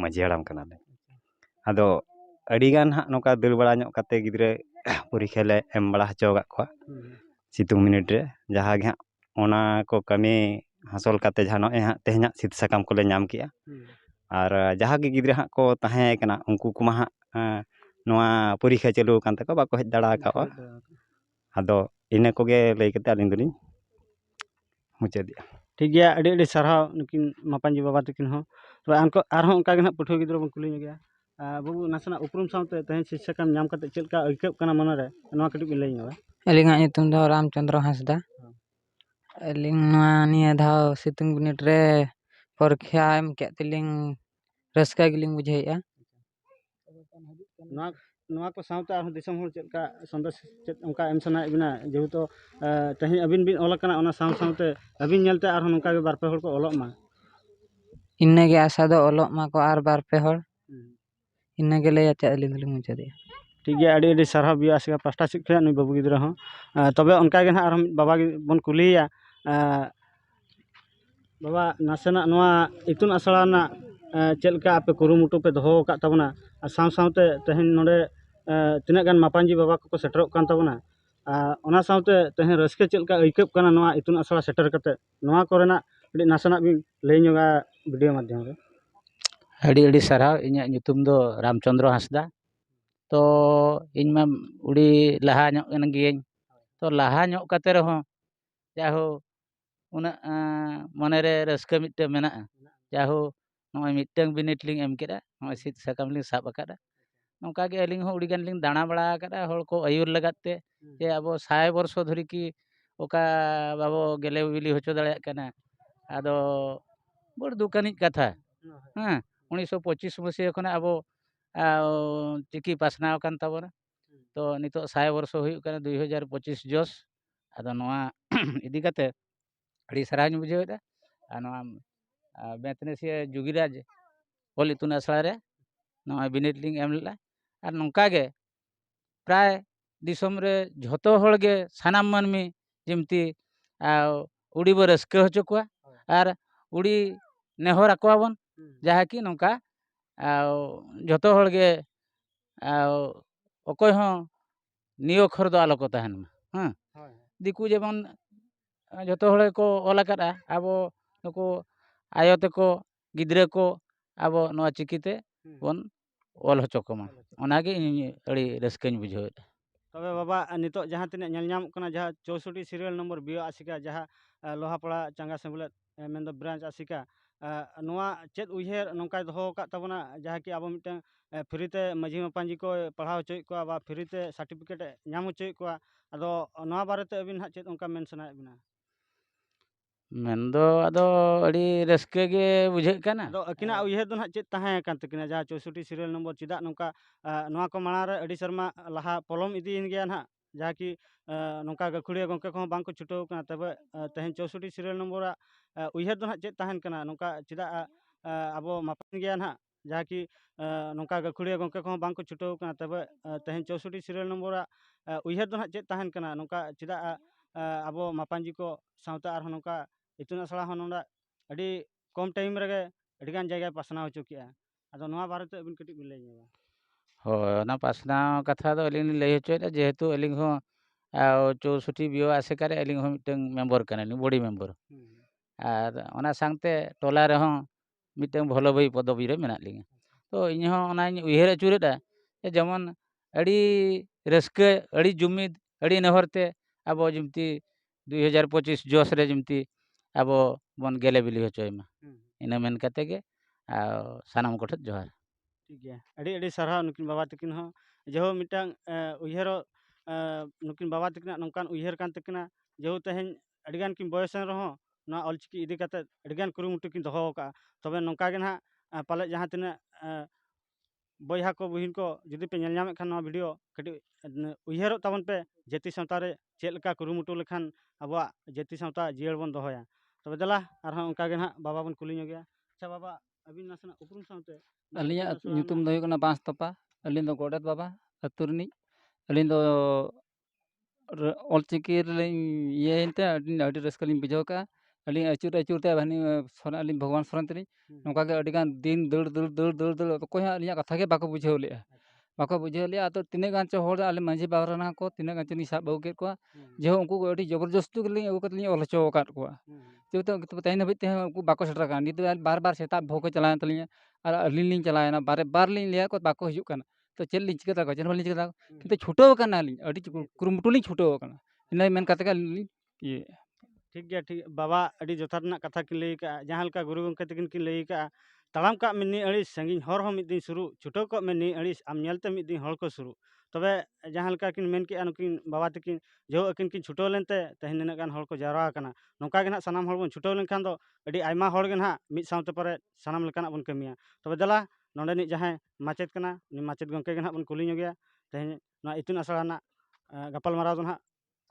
ᱢᱟᱹᱡᱷᱤ ᱦᱟᱲᱟᱢ ᱠᱟᱱᱟᱞᱮ ᱟᱫᱚ ᱟᱹᱰᱤᱜᱟᱱ ᱦᱟᱸᱜ ᱱᱚᱝᱠᱟ ᱫᱟᱹᱲ ᱵᱟᱲᱟ ᱧᱚᱜ ᱠᱟᱛᱮᱫ ᱜᱤᱫᱽᱨᱟᱹ ᱯᱚᱨᱤᱠᱠᱷᱟ ᱞᱮ ᱮᱢ ᱵᱟᱲᱟ ᱦᱚᱪᱚ ᱟᱠᱟᱫ ᱠᱚᱣᱟ ᱥᱤᱛᱩᱝ ᱢᱤᱱᱤᱴ ᱨᱮ ᱡᱟᱦᱟᱸ ᱜᱮ ᱦᱟᱸᱜ ᱚᱱᱟ ᱠᱚ ᱠᱟᱹᱢᱤ ᱦᱟᱥᱚᱞ ᱠᱟᱛᱮᱫ ᱡᱟᱦᱟᱸ ᱱᱚᱜᱼᱚᱸᱭ ᱦᱟᱸᱜ ᱛᱮᱦᱮᱧᱟᱜ ᱥᱤᱫ ᱥᱟᱠᱟᱢ ᱠᱚᱞᱮ ᱧᱟᱢ ᱠᱮᱜᱼᱟ ᱟᱨ ᱡᱟᱦᱟᱸ ᱜᱮ ᱜᱤᱫᱽᱨᱟᱹ ᱦᱟᱸᱜ ᱠᱚ ᱛᱟᱦᱮᱸ ᱠᱟᱱᱟ ᱩᱱᱠᱩ ᱠᱚᱢᱟ ᱦᱟᱸᱜ ᱱᱚᱣᱟ ᱯᱚᱨᱤᱠᱠᱷᱟ ᱪᱟᱹᱞᱩ ᱟᱠᱟᱱ ᱛᱟᱠᱚᱣᱟ ᱵᱟᱠᱚ ᱦᱮᱡ ᱫᱟᱲᱮ ᱠᱟᱣᱫᱟ ᱟᱫᱚ ᱤᱱᱟᱹ ᱠᱚᱜᱮ ᱞᱟᱹᱭ ᱠᱟᱛᱮᱫ ᱟᱹᱞᱤᱧ ᱫᱚᱞᱤᱧ ᱢᱩᱪᱟᱹᱫ ᱮᱜᱼᱟ ᱴᱷᱤᱠ ᱜᱮᱭᱟ ᱟᱹᱰᱤ ᱟᱹᱰᱤ ᱥᱟᱨᱦᱟᱣ ᱱᱩᱠᱤᱱ ᱢᱟᱯᱟᱡᱤ ᱵᱟᱵᱟ ᱛᱟᱹᱠᱤᱱ ᱦᱚᱸ ᱛᱚᱵᱮ ᱦᱟᱱᱠᱩ ᱟᱨᱦᱚᱸ ᱚᱱᱠᱟ ᱜᱮ ᱦᱟᱸᱜ ᱯᱟᱹᱴᱷᱩᱣᱟᱹ ᱜᱤᱫᱽᱨᱟᱹ ᱵᱚᱱ ᱠᱩᱞᱤ ᱧᱚᱜᱮᱭᱟ ᱵᱟᱹᱵᱩ ᱱᱟᱥᱮᱱᱟᱜ ᱩᱯᱨᱩᱢ ᱥᱟᱶᱛᱮ ᱛᱮᱦᱮᱧ ᱥᱤᱫᱽ ᱥᱟᱠᱟᱢ ᱧᱟᱢ ᱠᱟᱛᱮᱫ ᱪᱮᱫ ᱞᱮᱠᱟ ᱟᱹᱭᱠᱟᱹᱜ ᱠᱟᱱᱟ ᱢᱚᱱᱮ ᱨᱮ ᱱᱚᱣᱟ ᱠᱟᱹᱴᱤᱡ ᱵᱤᱱ ᱞᱟᱹᱭ ᱧᱚᱜᱟ ᱟᱹᱞᱤᱧᱟᱜ ᱧᱩᱛᱩᱢ ᱫᱚ ᱨᱟᱢ ᱪᱚᱱᱫᱨᱚ ᱦᱟᱸᱥᱫᱟ ᱟᱹᱞᱤᱧ ᱱᱚᱣᱟ ᱱᱤᱭᱟᱹ ᱫᱷᱟᱣ ᱥᱤᱛᱩᱝ ᱵᱤᱱᱤᱰ ᱨᱮ ᱯᱚᱨᱤᱠᱠᱷᱟ ᱮᱢ ᱠᱮᱫ ᱛᱮᱞᱤᱧ ᱨᱟᱹᱥᱠᱟᱹ ᱜᱮᱞᱤᱧ ᱵᱩᱡᱷᱟᱹᱣᱮᱜᱼᱟ ᱱᱚᱣᱟ ᱱᱚᱣᱟ ᱠᱚ ᱥᱟᱶᱛᱮ ᱟᱨᱦᱚᱸ ᱫᱤᱥᱚᱢ ᱦᱚᱲ ᱪᱮᱫ ᱞᱮᱠᱟ ᱥᱟᱸᱫᱮᱥ ᱪᱮᱫ ᱚᱱᱠᱟ ᱮᱢ ᱥᱟᱱᱟᱭᱮᱫ ᱵᱮᱱᱟ ᱡᱮᱦᱮᱛᱩ ᱛᱮᱦᱮᱧ ᱟᱹᱵᱤᱱ ᱵᱤᱱ ᱚᱞ ᱠᱟᱱᱟ ᱚᱱᱟ ᱥᱟᱶ ᱥᱟᱶᱛᱮ ᱟᱹᱵᱤᱱ ᱧᱮᱞ ᱛᱮ ᱟᱨᱦᱚᱸ ᱱᱚᱝᱠᱟ ᱜᱮ ᱵᱟᱨ ᱯᱮ ᱦᱚᱲ ᱠᱚ ᱚᱞᱚᱜ ᱢᱟ ᱤᱱᱟᱹ ᱜᱮ ᱟᱥᱟ ᱫᱚ ᱚᱞᱚᱜ ᱢᱟᱠᱚ ᱟᱨ ᱵᱟᱨ ᱯᱮ ᱦᱚᱲ ᱤᱱᱟᱹ ᱜᱮ ᱞᱟᱹᱭ ᱠᱟᱛᱮᱫ ᱟᱹᱞᱤᱧ ᱫᱚᱞᱤᱧ ᱢᱩᱪᱟᱹᱫᱮᱜᱼᱟ ᱴᱷᱤᱠ ᱜᱮᱭᱟ ᱟᱹᱰᱤ ᱟᱹᱰᱤ ᱥᱟᱨᱦᱟᱣ ᱵᱤ ᱟᱨ ᱥᱤ ᱠᱟ ᱯᱟᱥᱴᱟ ᱥᱮᱫ ᱠᱷᱚᱱᱟᱜ ᱱᱩᱭ ᱵᱟᱹᱵᱩ ᱜᱤᱫᱽᱨᱟᱹ ᱦᱚᱸ ᱛᱚᱵᱮ ᱚᱱᱠᱟ ᱜᱮ ᱦᱟᱸᱜ ᱟᱨᱦᱚᱸ ᱢᱤᱫ ᱵᱟᱵᱟ ᱵᱚᱱ ᱠᱩᱞᱤᱭᱮᱭᱟ ᱵᱟᱵᱟ ᱱᱟᱥᱮᱱᱟᱜ ᱱᱚᱣᱟ ᱤᱛᱩᱱ ᱟᱥᱲᱟ ᱨᱮᱱᱟᱜ ᱪᱮᱫ ᱞᱮᱠᱟ ᱟᱯᱮ ᱠᱩᱨᱩᱢᱩᱴᱩ ᱯᱮ ᱫᱚᱦᱚ ᱟᱠᱟᱫ ᱛᱟᱵᱚᱱᱟ ᱟᱨ ᱥᱟᱶ ᱥᱟᱶᱛᱮ ᱛᱮᱦᱮᱧ ᱱᱚᱰᱮ ᱛᱤᱱᱟᱹᱜ ᱜᱟᱱ ᱢᱟᱯᱟᱡᱤ ᱵᱟᱵᱟ ᱠᱚᱠᱚ ᱥᱮᱴᱮᱨᱚᱜ ᱠᱟᱱ ᱛᱟᱵᱚᱱᱟ ᱟᱨ ᱚᱱᱟ ᱥᱟᱶᱛᱮ ᱛᱮᱦᱮᱧ ᱨᱟᱹᱥᱠᱟᱹ ᱪᱮᱫ ᱞᱮᱠᱟ ᱟᱹᱭᱠᱟᱹᱜ ᱠᱟᱱᱟ ᱱᱚᱣᱟ ᱤᱛᱩᱱ ᱟᱥᱲᱟ ᱥᱮᱴᱮᱨ ᱠᱟᱛᱮᱫ ᱱᱚᱣᱟ ᱠᱚᱨᱮᱱᱟᱜ ᱠᱟᱹᱴᱤᱡ ᱱᱟᱥᱮᱱᱟᱜ ᱵᱤᱱ ᱞᱟᱹᱭ ᱧᱚᱜᱟ ᱵᱷᱤᱰᱤᱭᱳ ᱢᱟᱫᱽᱫᱷᱚᱢ ᱨᱮ ᱟᱹᱰᱤ ᱟᱹᱰᱤ ᱥᱟᱨᱦᱟᱣ ᱤᱧᱟᱹᱜ ᱧᱩᱛᱩᱢ ᱫᱚ ᱨᱟᱢ ᱪᱚᱱᱫᱨᱚ ᱦᱟᱸᱥᱫᱟ ᱛᱚ ᱤᱧ ᱢᱟ ᱟᱹᱰᱤ ᱞᱟᱦᱟ ᱧᱚᱜ ᱮᱱ ᱜᱤᱭᱟᱹᱧ ᱛᱚ ᱞᱟᱦᱟ ᱧᱚᱜ ᱠᱟᱛᱮᱫ ᱨᱮᱦᱚᱸ ᱡᱟᱭᱦᱳᱠ ᱩᱱᱟᱹᱜ ᱢᱚᱱᱮ ᱨᱮ ᱨᱟᱹᱥᱠᱟᱹ ᱢᱤᱫᱴᱟᱹᱝ ᱢᱮᱱᱟᱜᱼᱟ ᱡᱟᱭᱦᱳ ᱱᱚᱜᱼᱚᱭ ᱢᱤᱫᱴᱟᱹᱝ ᱵᱤᱱᱤᱰ ᱞᱤᱧ ᱮᱢ ᱠᱮᱫᱟ ᱱᱚᱜᱼᱚᱭ ᱥᱤᱫ ᱥᱟᱠᱟᱢ ᱞᱤᱧ ᱥᱟᱵ ᱟᱠᱟᱫᱟ ᱱᱚᱝᱠᱟ ᱜᱮ ᱟᱹᱞᱤᱧ ᱦᱚᱸ ᱟᱹᱰᱤ ᱜᱟᱱ ᱞᱤᱧ ᱫᱟᱬᱟ ᱵᱟᱲᱟ ᱟᱠᱟᱫᱟ ᱦᱚᱲ ᱠᱚ ᱟᱹᱭᱩᱨ ᱞᱟᱜᱟᱫ ᱛᱮ ᱡᱮ ᱟᱵᱚ ᱥᱟᱭ ᱵᱚᱨᱥᱚ ᱫᱷᱚᱨᱮ ᱠᱤ ᱚᱠᱟ ᱵᱟᱵᱚ ᱜᱮᱞᱮ ᱵᱤᱞᱤ ᱦᱚᱪᱚ ᱫᱟᱲᱮᱭᱟᱜ ᱠᱟᱱᱟ ᱟᱫᱚ ᱵᱚᱲ ᱫᱩᱠ ᱟᱹᱱᱤᱡ ᱠᱟᱛᱷᱟ ᱦᱮᱸ ᱩᱱᱤᱥᱥᱚ ᱯᱚᱸᱪᱤᱥ ᱢᱟᱹᱥᱤᱦᱟᱹ ᱠᱷᱚᱱᱟᱜ ᱟᱵᱚ ᱪᱤᱠᱤ ᱯᱟᱥᱱᱟᱣ ᱟᱠᱟᱱ ᱛᱟᱵᱚᱱᱟ ᱛᱚ ᱱᱤᱛᱳᱜ ᱥᱟᱭ ᱵᱚᱨᱥᱚ ᱦᱩᱭᱩᱜ ᱠᱟᱱᱟ ᱫᱩᱭ ᱦᱟᱡᱟᱨ ᱯᱚᱸᱪᱤᱥ ᱡᱚᱥ ᱟᱫᱚ ᱱᱚᱣᱟ ᱤᱫᱤ ᱠᱟᱛᱮᱫ ᱟᱹᱰᱤ ᱥᱟᱨᱦᱟᱣᱤᱧ ᱵᱩᱡᱷᱟᱹᱣᱮᱫᱟ ᱟᱨ ᱱᱚᱣᱟ ᱵᱮᱛᱱᱮᱥᱤᱭᱟᱹ ᱡᱩᱜᱤᱨᱟᱡᱽ ᱚᱞ ᱤᱛᱩᱱ ᱟᱥᱲᱟ ᱨᱮ ᱱᱚᱜᱼᱚᱭ ᱵᱤᱱᱤᱰ ᱞᱤᱧ ᱮᱢ ᱞᱮᱫᱟ ᱟᱨ ᱱᱚᱝᱠᱟ ᱜᱮ ᱯᱨᱟᱭ ᱫᱤᱥᱚᱢ ᱨᱮ ᱡᱷᱚᱛᱚ ᱦᱚᱲ ᱜᱮ ᱥᱟᱱᱟᱢ ᱢᱟᱹᱱᱢᱤ ᱡᱤᱢᱛᱤ ᱩᱰᱤ ᱵᱚ ᱨᱟᱹᱥᱠᱟᱹ ᱦᱚᱪᱚ ᱠᱚᱣᱟ ᱟᱨ ᱩᱰᱤ ᱱᱮᱦᱚᱨ ᱟᱠᱚᱣᱟ ᱵᱚᱱ ᱡᱟᱦᱟᱸ ᱠᱤ ᱱᱚᱝᱠᱟ ᱡᱷᱚᱛᱚ ᱦᱚᱲ ᱜᱮ ᱚᱠᱚᱭ ᱦᱚᱸ ᱱᱤᱭᱟᱹ ᱚᱠᱷᱚᱨ ᱫᱚ ᱟᱞᱚ ᱠᱚ ᱛᱟᱦᱮᱱ ᱢᱟ ᱦᱮᱸ ᱫᱤᱠᱩ ᱡᱮᱢᱚᱱ ᱡᱚᱛᱚ ᱦᱚᱲ ᱜᱮᱠᱚ ᱚᱞ ᱟᱠᱟᱫᱼᱟ ᱟᱵᱚ ᱱᱩᱠᱩ ᱟᱭᱳ ᱛᱮᱠᱚ ᱜᱤᱫᱽᱨᱟᱹ ᱠᱚ ᱟᱵᱚ ᱱᱚᱣᱟ ᱪᱤᱠᱤ ᱛᱮ ᱵᱚᱱ ᱚᱞ ᱦᱚᱪᱚ ᱠᱚᱢᱟ ᱚᱱᱟᱜᱮ ᱤᱧ ᱟᱹᱰᱤ ᱨᱟᱹᱥᱠᱟᱹᱧ ᱵᱩᱡᱷᱟᱹᱣᱮᱫᱼᱟ ᱛᱚᱵᱮ ᱵᱟᱵᱟ ᱱᱤᱛᱚᱜ ᱡᱟᱦᱟᱸ ᱛᱤᱱᱟᱹᱜ ᱧᱮᱞ ᱧᱟᱢᱚᱜ ᱠᱟᱱᱟ ᱡᱟᱦᱟᱸ ᱪᱳᱣᱥᱚᱴᱴᱤ ᱥᱤᱨᱤᱭᱟᱞ ᱱᱚᱢᱵᱚᱨ ᱵᱤᱭᱳ ᱟᱥᱮᱠᱟ ᱡᱟᱦᱟᱸ ᱞᱳᱦᱟᱯᱟᱲᱟ ᱪᱟᱸᱜᱟ ᱥᱮᱸᱵᱽᱞᱮᱫ ᱢᱮᱱ ᱫᱚ ᱵᱨᱟᱧᱪ ᱟᱥᱮᱠᱟ ᱱᱚᱣᱟ ᱪᱮᱫ ᱩᱭᱦᱟᱹᱨ ᱱᱚᱝᱠᱟᱭ ᱫᱚᱦᱚ ᱟᱠᱟᱫ ᱛᱟᱵᱚᱱᱟ ᱡᱟᱦᱟᱸ ᱠᱤ ᱟᱵᱚ ᱢᱤᱫᱴᱟᱝ ᱯᱷᱨᱤ ᱛᱮ ᱢᱟᱹᱡᱷᱤ ᱢᱟᱯᱟᱡᱤ ᱠᱚᱭ ᱯᱟᱲᱦᱟᱣ ᱦᱚᱪᱚᱭᱮᱫ ᱠᱚᱣᱟ ᱵᱟ ᱯᱷᱨᱤ ᱛᱮ ᱥᱟᱨᱴᱤᱯᱷᱤᱠᱮᱴ ᱮ ᱧᱟᱢ ᱦᱚᱪᱚᱭᱮᱫ ᱠᱚᱣᱟ ᱟᱫᱚ ᱱᱚᱣᱟ ᱵᱟᱨᱮ ᱛᱮ ᱟᱹᱵᱤᱱ ᱦᱟᱸᱜ ᱪᱮᱫ ᱚᱱᱠᱟ ᱢᱮᱱ ᱥᱟᱱᱟᱭᱮᱫ ᱵᱮᱱᱟ ᱢᱮᱱ ᱫᱚ ᱟᱫᱚ ᱟᱹᱰᱤ ᱨᱟᱹᱥᱠᱟᱹ ᱜᱮ ᱵᱩᱡᱷᱟᱹᱜ ᱠᱟᱱᱟ ᱟᱫᱚ ᱟᱹᱠᱤᱱᱟᱜ ᱩᱭᱦᱟᱹᱨ ᱫᱚ ᱦᱟᱸᱜ ᱪᱮᱫ ᱛᱟᱦᱮᱸ ᱟᱠᱟᱱ ᱛᱟᱹᱠᱤᱱᱟ ᱡᱟᱦᱟᱸ ᱪᱳᱭᱥᱚᱴᱴᱤ ᱥᱤᱨᱤᱭᱟᱞ ᱱᱚᱢᱵᱚᱨ ᱪᱮᱫᱟᱜ ᱱᱚᱝᱠᱟ ᱱᱚᱣᱟ ᱠᱚ ᱢᱟᱲᱟᱝ ᱨᱮ ᱟᱹᱰᱤ ᱥᱮᱨᱢᱟ ᱞᱟᱦᱟ ᱯᱚᱞᱚᱢ ᱤᱫᱤᱭᱮᱱ ᱜᱮᱭᱟ ᱦᱟᱸᱜ ᱡᱟᱦᱟᱸ ᱠᱤ ᱱᱚᱝᱠᱟ ᱜᱟᱹᱠᱷᱩᱲᱤᱭᱟᱹ ᱜᱚᱢᱠᱮ ᱠᱚᱦᱚᱸ ᱵᱟᱝ ᱠᱚ ᱪᱷᱩᱴᱟᱹᱣ ᱠᱟᱱᱟ ᱛᱚᱵᱮ ᱛᱮᱦᱮᱧ ᱪᱳᱥᱳᱴᱴᱤ ᱥᱤᱨᱤᱭᱟᱞ ᱱᱚᱢᱵᱚᱨᱟᱜ ᱩᱭᱦᱟᱹᱨ ᱫᱚ ᱦᱟᱸᱜ ᱪᱮᱫ ᱛᱟᱦᱮᱱ ᱠᱟᱱᱟ ᱱᱚᱝᱠᱟ ᱪᱮᱫᱟᱜ ᱟᱵᱚ ᱢᱟᱯᱟᱱ ᱜᱮᱭᱟ ᱦᱟᱸᱜ ᱡᱟᱦᱟᱸ ᱠᱤ ᱱᱚᱝᱠᱟ ᱜᱟᱹᱠᱷᱩᱲᱤᱭᱟᱹ ᱜᱚᱢᱠᱮ ᱠᱚᱦᱚᱸ ᱵᱟᱝ ᱠᱚ ᱪᱷᱩᱴᱟᱹᱣ ᱠᱟᱱᱟ ᱛᱚᱵᱮ ᱛᱮᱦᱮᱧ ᱪᱳᱥᱳᱴᱴᱤ ᱥᱤᱨᱤᱭᱟᱞ ᱱᱚᱢᱵᱚᱨᱟᱜ ᱩᱭᱦᱟᱹᱨ ᱫᱚ ᱦᱟᱸᱜ ᱪᱮᱫ ᱛᱟᱦᱮᱱ ᱠᱟᱱᱟ ᱱᱚᱝᱠᱟ ᱪᱮᱫᱟᱜ ᱟᱵᱚ ᱢᱟᱯᱟᱱᱡᱤ ᱠᱚ ᱥᱟᱶᱛᱮ ᱟᱨᱦᱚᱸ ᱱᱚᱝᱠᱟ ᱤᱛᱩᱱ ᱟᱥᱲᱟ ᱦᱚᱸ ᱱᱚᱰᱮ ᱟᱹᱰᱤ ᱠᱚᱢ ᱴᱟᱭᱤᱢ ᱨᱮᱜᱮ ᱟᱹᱰᱤ ᱜᱟᱱ ᱡᱟᱭᱜᱟᱭ ᱯᱟᱥᱱᱟᱣ ᱦᱚᱪᱚ ᱠᱮᱜᱼᱟ ᱟᱫᱚ ᱱᱚᱣᱟ ᱵᱟᱨᱮ ᱛᱮ ᱟᱹᱵᱤᱱ ᱠᱟᱹᱴᱤᱡ ᱵᱤᱱ ᱞᱟᱹᱭ ᱧᱚᱜᱟ ᱦᱳᱭ ᱚᱱᱟ ᱯᱟᱥᱱᱟᱣ ᱠᱟᱛᱷᱟ ᱫᱚ ᱟᱹᱞᱤᱧ ᱞᱤᱧ ᱞᱟᱹᱭ ᱦᱚᱪᱚᱭᱮᱫᱟ ᱡᱮᱦᱮᱛᱩ ᱟᱹᱞᱤᱧ ᱦᱚᱸ ᱪᱳᱥᱳᱴᱴᱤ ᱵᱤ ᱳ ᱟᱥᱮᱠᱟ ᱨᱮ ᱟᱹᱞᱤᱧ ᱦᱚᱸ ᱢᱤᱫᱴᱟᱹᱝ ᱢᱮᱢᱵᱚᱨ ᱠᱟᱱᱟ ᱞᱤᱧ ᱵᱳᱰᱤ ᱢᱮᱢᱵᱚᱨ ᱟᱨ ᱚᱱᱟ ᱥᱟᱶᱛᱮ ᱴᱚᱞᱟ ᱨᱮᱦᱚᱸ ᱢᱤᱫᱴᱟᱹᱝ ᱵᱷᱚᱞᱚ ᱵᱷᱟᱹᱭ ᱯᱚᱫᱚᱵᱤ ᱨᱮ ᱢᱮᱱᱟᱜ ᱞᱤᱧᱟᱹ ᱛᱚ ᱤᱧ ᱦᱚᱸ ᱚᱱᱟᱧ ᱩᱭᱦᱟᱹᱨ ᱟᱹᱪᱩᱨᱮᱫᱟ ᱡᱮᱢᱚᱱ ᱟᱹᱰᱤ ᱨᱟᱹᱥᱠᱟᱹ ᱟᱹᱰᱤ ᱡᱩᱢᱤᱫ ᱟᱹᱰᱤ ᱱᱮᱦᱚᱨ ᱛᱮ ᱟᱵᱚ ᱡᱩᱢᱛᱤ ᱫᱩᱭ ᱦᱟᱡᱟᱨ ᱯᱚᱸᱪᱤᱥ ᱡᱚᱥ ᱨᱮ ᱡᱮᱢᱛᱤ ᱟᱵᱚ ᱵᱚᱱ ᱜᱮᱞᱮ ᱵᱤᱞᱤ ᱦᱚᱪᱚᱭ ᱢᱟ ᱤᱱᱟᱹ ᱢᱮᱱ ᱠᱟᱛᱮ ᱜᱮ ᱥᱟᱱᱟᱢ ᱠᱚᱴᱷᱮᱱ ᱡᱚᱦᱟᱨ ᱴᱷᱤᱠ ᱜᱮᱭᱟ ᱟᱹᱰᱤ ᱟᱹᱰᱤ ᱥᱟᱨᱦᱟᱣ ᱱᱩᱠᱤᱱ ᱵᱟᱵᱟ ᱛᱟᱹᱠᱤᱱ ᱦᱚᱸ ᱡᱮᱦᱳ ᱢᱤᱫᱴᱟᱝ ᱩᱭᱦᱟᱹᱨᱚᱜ ᱱᱩᱠᱤᱱ ᱵᱟᱵᱟ ᱛᱟᱹᱠᱤᱱᱟᱜ ᱱᱚᱝᱠᱟᱱ ᱩᱭᱦᱟᱹᱨ ᱠᱟᱱ ᱛᱟᱹᱠᱤᱱᱟ ᱡᱮᱦᱳ ᱛᱮᱦᱮᱧ ᱟᱹᱰᱤᱜᱟᱱ ᱠᱤᱱ ᱵᱚᱭᱚᱥᱮᱱ ᱨᱮᱦᱚᱸ ᱱᱚᱣᱟ ᱚᱞᱪᱤᱠᱤ ᱤᱫᱤ ᱠᱟᱛᱮ ᱟᱹᱰᱤᱜᱟᱱ ᱠᱩᱨᱩᱢᱩᱴᱩ ᱠᱤᱱ ᱫᱚᱦᱚ ᱟᱠᱟᱫᱼᱟ ᱛᱚᱵᱮ ᱱᱚᱝᱠᱟ ᱜᱮ ᱱᱟᱦᱟᱜ ᱯᱟᱞᱮᱫ ᱡᱟᱦᱟᱸ ᱛᱤᱱᱟᱹᱜ ᱵᱚᱭᱦᱟ ᱠᱚ ᱵᱩᱦᱤᱱ ᱠᱚ ᱡᱩᱫᱤ ᱯᱮ ᱧᱮᱞ ᱧᱟᱢᱮᱫ ᱠᱷᱟᱱ ᱱᱚᱣᱟ ᱵᱷᱤᱰᱤᱭᱳ ᱠᱟᱹᱴᱤᱡ ᱩᱭᱦᱟᱹᱨᱚᱜ ᱛᱟᱵᱚᱱ ᱯᱮ ᱡᱟᱹᱛᱤ ᱥᱟᱶᱛᱟ ᱨᱮ ᱪᱮᱫ ᱞᱮᱠᱟ ᱠᱩᱨᱩᱢᱩᱴᱩ ᱞᱮᱠᱷᱟᱱ ᱟᱵᱚᱣᱟᱜ ᱡᱟᱹᱛᱤ ᱥᱟᱶᱛᱟ ᱡᱤᱭᱟᱹᱲ ᱵᱚᱱ ᱫᱚᱦᱚᱭᱟ ᱛᱚᱵᱮ ᱫᱮᱞᱟ ᱟᱨᱦᱚᱸ ᱚᱱᱠᱟ ᱜᱮ ᱱᱟᱦᱟᱜ ᱵᱟᱵᱟ ᱵᱚᱱ ᱠᱩᱞᱤ ᱧᱚᱜᱮᱭᱟ ᱟᱪᱪᱷᱟ ᱵᱟᱵᱟ ᱟᱹᱵᱤᱱ ᱱᱟᱥᱮᱱᱟᱜ ᱩᱯᱨᱩᱢ ᱥᱟᱶᱛᱮ ᱟᱹᱞᱤᱧᱟᱜ ᱧᱩᱛᱩᱢ ᱫᱚ ᱦᱩᱭᱩᱜ ᱠᱟᱱᱟ ᱵᱟᱸᱥ ᱛᱚᱯᱟ ᱟᱹᱞᱤᱧ ᱫᱚ ᱜᱚᱰᱮᱛ ᱵᱟᱵᱟ ᱟᱹᱛᱩ ᱨᱤᱱᱤᱡ ᱟᱹᱞᱤᱧ ᱫᱚ ᱚᱞ ᱪᱤᱠᱤ ᱨᱮᱞᱤᱧ ᱤᱭᱟᱹᱭᱮᱱ ᱛᱮ ᱟᱹᱰᱤ ᱨᱟᱹᱥᱠᱟᱹ ᱞᱤᱧ ᱵᱩᱡᱷᱟᱹᱣ ᱠᱮᱜᱼᱟ ᱟᱹᱞᱤᱧ ᱟᱹᱪᱩᱨ ᱟᱹᱪᱩᱨ ᱛᱮ ᱦᱟᱹᱱᱤ ᱥᱚᱨᱮᱱ ᱟᱹᱞᱤᱧ ᱵᱷᱚᱜᱚᱵᱟᱱ ᱥᱚᱨᱮᱱ ᱛᱟᱹᱞᱤᱧ ᱱᱚᱝᱠᱟ ᱜᱮ ᱟᱹᱰᱤ ᱜᱟᱱ ᱫᱤᱱ ᱫᱟᱹᱲ ᱫᱟᱹᱲ ᱫᱟᱹᱲ ᱫᱟᱹᱲ ᱫᱟᱹᱲ ᱚᱠᱚᱭ ᱦᱚᱸ ᱟᱹᱞᱤᱧᱟᱜ ᱠᱟᱛᱷᱟ ᱜᱮ ᱵᱟᱠᱚ ᱵᱩᱡᱷᱟᱹᱣ ᱞᱮᱜᱼᱟ ᱵᱟᱠᱚ ᱵᱩᱡᱷᱟᱹᱣ ᱞᱮᱜᱼᱟ ᱟᱫᱚ ᱛᱤᱱᱟᱹᱜ ᱜᱟᱱ ᱪᱚ ᱦᱚᱲ ᱟᱞᱮ ᱢᱟᱹᱡᱷᱤ ᱯᱟᱨᱜᱟᱱᱟ ᱠᱚ ᱛᱤᱱᱟᱹᱜ ᱜᱟᱱ ᱪᱚ ᱞᱤᱧ ᱥᱟᱵ ᱟᱹᱜᱩ ᱠᱮᱜ ᱠᱚᱣᱟ ᱡᱮ ᱦᱳᱠ ᱩᱱᱠᱩ ᱠᱚ ᱟᱹᱰᱤ ᱡᱚᱵᱚᱨ ᱡᱚᱥᱛᱤ ᱜᱮᱞᱤᱧ ᱟᱹᱜᱩ ᱠᱟᱛᱮᱫ ᱞᱤᱧ ᱚᱞ ᱦᱚᱪᱚ ᱟᱠᱟᱫ ᱠᱚᱣᱟ ᱡᱮᱦᱮᱛᱩ ᱛᱮᱦᱮᱧ ᱫᱷᱟᱹᱵᱤᱡ ᱛᱮ ᱩᱱᱠᱩ ᱵᱟᱠᱚ ᱥᱮᱴᱮᱨ ᱟᱠᱟᱱᱟ ᱱᱤᱛ ᱫᱚ ᱵᱟᱨ ᱵᱟᱨ ᱥᱮᱛᱟᱜ ᱵᱷᱳᱨ ᱠᱚ ᱪᱟᱞᱟᱣᱮᱱ ᱛᱟᱹᱞᱤᱧᱟ ᱟᱨ ᱟᱹᱞᱤᱧ ᱞᱤᱧ ᱪᱟᱞᱟᱣᱮᱱᱟ ᱵᱟᱨᱮ ᱵᱟᱨ ᱞᱤᱧ ᱞᱟᱹᱭ ᱟᱠᱚ ᱵᱟᱠᱚ ᱦᱤᱡᱩᱜ ᱠᱟᱱᱟ ᱛᱚ ᱪᱮᱫ ᱞᱤᱧ ᱪᱤᱠᱟᱹ ᱫᱟᱲᱮᱭᱟᱠᱚᱣᱟ ᱪᱮᱫ ᱦᱚᱸ ᱵᱟᱹᱞᱤᱧ ᱪᱤᱠᱟᱹ ᱫᱟᱲᱮᱭᱟᱠᱚᱣᱟ ᱠᱤᱱᱛᱩ ᱪᱷᱩᱴᱟᱹᱣ ᱠᱟᱱᱟᱞᱤᱧ ᱟᱹᱰᱤ ᱠᱩᱨᱩᱢᱩᱴᱩ ᱞᱤᱧ ᱪᱷᱩᱴᱟᱹᱣ ᱠᱟᱱᱟ ᱤᱱᱟᱹ ᱢᱮᱱ ᱠᱟᱛᱮᱫ ᱜᱮ ᱟᱹᱞᱤᱧ ᱞᱤᱧ ᱤᱭᱟᱹᱭᱮᱫᱼᱟ ᱴᱷᱤᱠ ᱜᱮᱭᱟ ᱴᱷᱤᱠ ᱜᱮᱭᱟ ᱵᱟᱵᱟ ᱟᱹᱰᱤ ᱡᱚᱛᱷᱟᱛ ᱨᱮᱱᱟᱜ ᱠᱟᱛᱷᱟ ᱠᱤᱱ ᱞᱟᱹᱭ ᱟᱠᱟᱫᱼᱟ ᱡᱟᱦᱟᱸ ᱞᱮᱠᱟ ᱜᱩᱨᱩ ᱜᱚᱢᱠᱮ ᱛᱟᱹᱠᱤᱱ ᱠᱤᱱ ᱞᱟᱹᱭ ᱟᱠᱟᱫᱼᱟ ᱛᱟᱲᱟᱢ ᱠᱟᱜ ᱢᱮ ᱱᱤᱭᱟᱹ ᱟᱹᱲᱤ ᱥᱟᱺᱜᱤᱧ ᱦᱚᱨ ᱦᱚᱸ ᱢᱤᱫ ᱫᱤᱱ ᱥᱩᱨᱩᱜ ᱪᱷᱩᱴᱟᱹᱣ ᱠᱚᱜ ᱢᱮ ᱱᱤᱭᱟᱹ ᱟᱹᱲᱤ ᱟᱢ ᱧᱮᱞ ᱛᱮ ᱢᱤᱫ ᱫᱤᱱ ᱦᱚᱲ ᱠᱚ ᱥᱩᱨᱩᱜ ᱛᱚᱵᱮ ᱡᱟᱦᱟᱸ ᱞᱮᱠᱟ ᱠᱤᱱ ᱢᱮᱱ ᱠᱮᱫᱼᱟ ᱱᱩᱠᱤᱱ ᱵᱟᱵᱟ ᱛᱟᱹᱠᱤᱱ ᱡᱮ ᱦᱳᱠ ᱟᱹᱠᱤᱱ ᱠᱤᱱ ᱪᱷᱩᱴᱟᱹᱣ ᱞᱮᱱ ᱛᱮ ᱛᱮᱦᱮᱧ ᱱᱤᱱᱟᱹᱜ ᱜᱟᱱ ᱦᱚᱲ ᱠᱚ ᱡᱟᱣᱨᱟ ᱟᱠᱟᱱᱟ ᱱᱚᱝᱠᱟ ᱜᱮ ᱱᱟᱦᱟᱜ ᱥᱟᱱᱟᱢ ᱦᱚᱲ ᱵᱚᱱ ᱪᱷᱩᱴᱟᱹᱣ ᱞᱮᱱᱠᱷᱟᱱ ᱫᱚ ᱟᱹᱰᱤ ᱟᱭᱢᱟ ᱦᱚᱲ ᱜᱮ ᱱᱟᱦᱟᱜ ᱢᱤᱫ ᱥᱟᱶᱛᱮ ᱯᱚᱨᱮ ᱥᱟᱱᱟᱢ ᱞᱮᱠᱟᱱᱟᱜ ᱵᱚᱱ ᱠᱟᱹᱢᱤᱭᱟ ᱛᱚᱵᱮ ᱫᱮᱞᱟ ᱱᱚᱰᱮᱱᱤᱡ ᱡᱟᱦᱟᱸᱭ ᱢᱟᱪᱮᱫ ᱠᱟᱱᱟ ᱩᱱᱤ ᱢᱟᱪᱮᱫ ᱜᱚᱢᱠᱮ ᱜᱮ ᱱᱟᱦᱟᱜ ᱵᱚᱱ ᱠᱩᱞᱤ ᱧᱚᱜᱮᱭᱟ ᱛᱮᱦᱮᱧ ᱱᱚᱣᱟ ᱤᱛᱩᱱ ᱟᱥᱲᱟ ᱨᱮᱱᱟᱜ ᱜᱟᱯᱟᱞ ᱢᱟᱨᱟᱣ ᱫᱚ ᱱᱟᱦᱟᱜ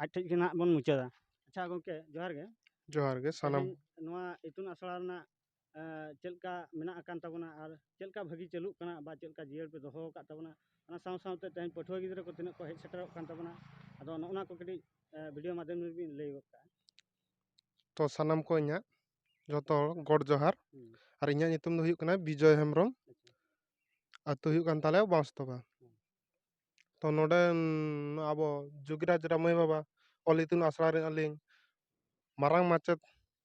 ᱟᱡ ᱴᱷᱮᱱ ᱜᱮ ᱱᱟᱦᱟᱜ ᱵᱚᱱ ᱢᱩᱪᱟᱹᱫᱟ ᱟᱪᱪᱷᱟ ᱜᱚᱢᱠᱮ ᱡᱚᱦᱟᱨ ᱜᱮ ᱡᱚᱦᱟᱨ ᱜᱮ ᱥᱟᱱᱟᱢ ᱱᱚᱣᱟ ᱤᱛᱩᱱ ᱟᱥᱲᱟ ᱨᱮᱱᱟᱜ ᱪᱮᱫ ᱞᱮᱠᱟ ᱢᱮᱱᱟᱜ ᱟᱠᱟᱱ ᱛᱟᱵᱚᱱᱟ ᱟᱨ ᱪᱮᱫ ᱞᱮᱠᱟ ᱵᱷᱟᱹᱜᱤ ᱪᱟᱹᱞᱩᱜ ᱠᱟᱱᱟ ᱵᱟ ᱪᱮᱫ ᱞᱮᱠᱟ ᱡᱤᱭᱟᱹᱲ ᱯᱮ ᱫᱚᱦᱚ ᱟᱠᱟᱫ ᱛᱟᱵᱚᱱᱟ ᱚᱱᱟ ᱥᱟᱶ ᱥᱟᱶᱛᱮ ᱛᱮᱦᱮᱧ ᱯᱟᱹᱴᱷᱩᱣᱟᱹ ᱜᱤᱫᱽᱨᱟᱹ ᱠᱚ ᱛᱤᱱᱟᱹᱜ ᱠᱚ ᱦᱮᱡ ᱥᱮᱴᱮᱨᱚᱜ ᱠᱟᱱ ᱛᱟᱵᱚᱱᱟ ᱟᱫᱚ ᱱᱚᱜᱼᱚ ᱱᱟ ᱠᱚ ᱠᱟᱹᱴᱤᱡ ᱵᱷᱤᱰᱤᱭᱳ ᱢᱟᱫᱽᱫᱷᱚᱢ ᱨᱮᱵᱤᱱ ᱞᱟᱹᱭ ᱜᱚᱫ ᱠᱟᱜᱼᱟ ᱛᱚ ᱥᱟᱱᱟᱢ ᱠᱚ ᱤᱧᱟᱹᱜ ᱡᱚᱛᱚ ᱦᱚᱲ ᱜᱚᱰ ᱡᱚᱦᱟᱨ ᱟᱨ ᱤᱧᱟᱹᱜ ᱧᱩᱛᱩᱢ ᱫᱚ ᱦᱩᱭᱩᱜ ᱠᱟᱱᱟ ᱵᱤᱡᱚᱭ ᱦᱮᱢᱵᱨᱚᱢ ᱟᱹᱛᱩ ᱦᱩᱭᱩᱜ ᱠᱟᱱ ᱛᱟᱞᱮᱭᱟ ᱵᱟᱸᱥᱛᱚᱯᱟ ᱛᱚ ᱱᱚᱰᱮ ᱟᱵᱚ ᱡᱳᱜᱤᱨᱟᱡᱽ ᱨᱟᱢᱟᱹᱭ ᱵᱟᱵᱟ ᱚᱞ ᱤᱛᱩᱱ ᱟᱥᱲᱟ ᱨᱮ ᱟᱹᱞᱤᱧ ᱢᱟᱨᱟᱝ ᱢᱟᱪᱮᱫ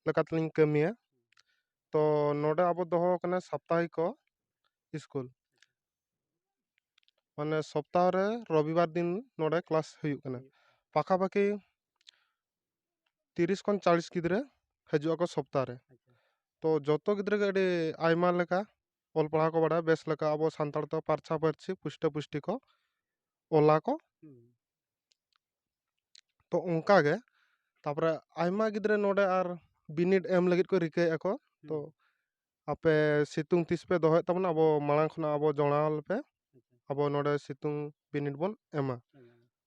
ᱞᱮᱠᱟ ᱛᱮᱞᱤᱧ ᱠᱟᱹᱢᱤᱭᱟ ᱛᱚ ᱱᱚᱰᱮ ᱟᱵᱚ ᱫᱚᱦᱚᱣ ᱠᱟᱱᱟ ᱥᱟᱯᱛᱟᱦᱤᱠᱚ ᱤᱥᱠᱩᱞ ᱢᱟᱱᱮ ᱥᱚᱯᱛᱟᱦᱚ ᱨᱮ ᱨᱚᱵᱤᱵᱟᱨ ᱫᱤᱱ ᱱᱚᱰᱮ ᱠᱞᱟᱥ ᱦᱩᱭᱩᱜ ᱠᱟᱱᱟ ᱯᱟᱠᱷᱟᱯᱟᱠᱷᱤ ᱛᱤᱨᱤᱥ ᱠᱷᱚᱱ ᱪᱚᱞᱞᱤᱥ ᱜᱤᱫᱽᱨᱟᱹ ᱦᱤᱡᱩᱜ ᱟᱠᱚ ᱥᱚᱯᱛᱟ ᱨᱮ ᱛᱚ ᱡᱚᱛᱚ ᱜᱤᱫᱽᱨᱟᱹ ᱜᱮ ᱟᱹᱰᱤ ᱟᱭᱢᱟ ᱞᱮᱠᱟ ᱚᱞ ᱯᱟᱲᱦᱟᱣ ᱠᱚ ᱵᱟᱲᱟᱭᱟ ᱵᱮᱥ ᱞᱮᱠᱟ ᱟᱵᱚ ᱥᱟᱱᱛᱟᱲ ᱛᱮ ᱯᱷᱟᱨᱪᱟ ᱯᱷᱟᱹᱨᱪᱤ ᱯᱩᱥᱴᱟᱹ ᱯᱩᱥᱴᱤ ᱠᱚ ᱚᱞᱟ ᱠᱚ ᱛᱚ ᱚᱱᱠᱟ ᱜᱮ ᱛᱟᱯᱚᱨᱮ ᱟᱭᱢᱟ ᱜᱤᱫᱽᱨᱟᱹ ᱱᱚᱰᱮ ᱟᱨ ᱵᱤᱱᱤᱰ ᱮᱢ ᱞᱟᱹᱜᱤᱫ ᱠᱚ ᱨᱤᱠᱟᱹᱭᱮᱫᱼᱟ ᱠᱚ ᱛᱚ ᱟᱯᱮ ᱥᱤᱛᱩᱝ ᱛᱤᱥ ᱯᱮ ᱫᱚᱦᱚᱭᱮᱫ ᱛᱟᱵᱚᱱᱟ ᱟᱵᱚ ᱢᱟᱲᱟᱝ ᱠᱷᱚᱱᱟᱜ ᱟᱵᱚ ᱡᱚᱲᱟᱣ ᱞᱮᱯᱮ ᱟᱵᱚ ᱱᱚᱰᱮ ᱥᱤᱛᱩᱝ ᱵᱤᱱᱤᱰ ᱵᱚᱱ ᱮᱢᱟ